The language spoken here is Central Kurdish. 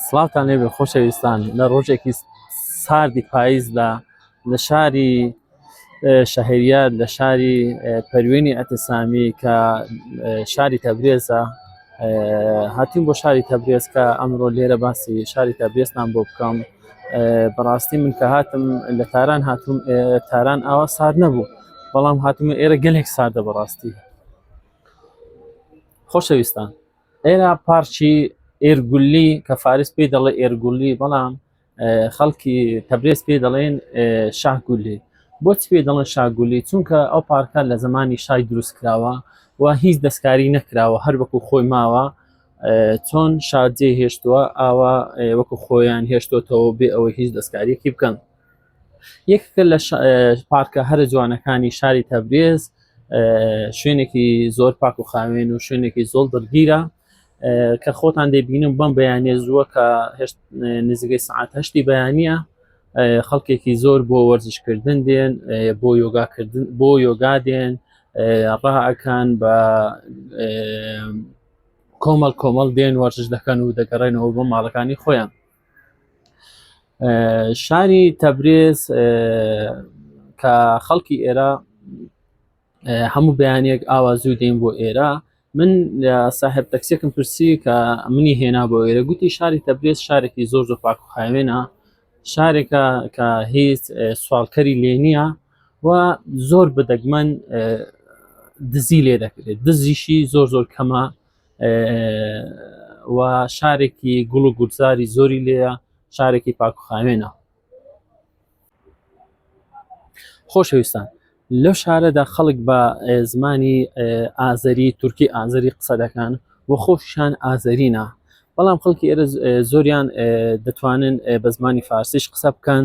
سڵاوتان لێبێ خۆشەویستان لە ڕۆژێکی ساردی پاییزدا لە شاری شەهریار لە شاری پەروێنی ئەتەسامی کە شاری تەبرێزە هاتیم بۆ شاری تەبرێز کە ئەمڕۆ لێرە باسی شاری تەبرێستان بۆ بکەم بەڕاستی من کە هاتم لە تاران هاتم تاران ئاوا سارد نەبوو بەڵام هاتم ئێرە گەلێک ساردە بەڕاستی خۆشەویستان ئێرە پارچی ئێرگولی کە فارس پێی دەڵێ ئێرگولی بەڵام خەڵکی تەبرێز پێ دەڵێن شاگولی بۆچی پێ دەڵێن شاگولی چونکە ئەو پارکە لە زمانی شای دروست کراوە و هیچ دەستکاری نەکراوە هەر وەکو خۆی ماوە چۆن شارجێ هێشتووە ئاوا وەکو خۆیان هێشتۆتەوە بێ ئەوەی هیچ دەستکاریەکی بکەن یەکێکە لە پارکە هەرە جوانەکانی شاری تەبرێز شوێنێکی زۆر پاک و خاوێن و شوێنێکی زۆڵ دڵگیرە کە خۆتان دەبینم بەم بەیانێ زووە کە نزیگەی سعات هەشتی بەیانە خەڵکێکی زۆر بۆ وەرزشکردن دێن بۆ یۆگاکردن بۆ یۆگا دێن ڕاکان بە کۆمەڵ کۆمەڵ دێن وەرزش دەکەن و دەگەڕێنەوە بۆ ماڵەکانی خۆیان شاری تەبرێز کە خەڵکی ئێرە هەموو بەیانێک ئاوا زوو دێن بۆ ئێرە من ساحب تەکسێکم پرسی کە منی هێنا بۆ ئێرە گوتی شاری تەبرێز شارێکی زۆر زۆر پاک و خاوێنە شارێکە کە هیچ سوالکەری لێ نییە و زۆر بدەگمەن دزی لێ دەکرێت دزیشی زۆر زۆر کەمە و شارێکی گوڵ و گورزاری زۆری لێە شارێکی پاکخاوێنە خۆشەویستان لەو شارەدا خەڵک بە زمانی ئازەری تورکی ئازەری قسە دەکەن و خۆشیان ئازەرینە بەڵام خەڵکی ئێرە زۆریان دەتوانن بە زمانی فارسیش قسە بکەن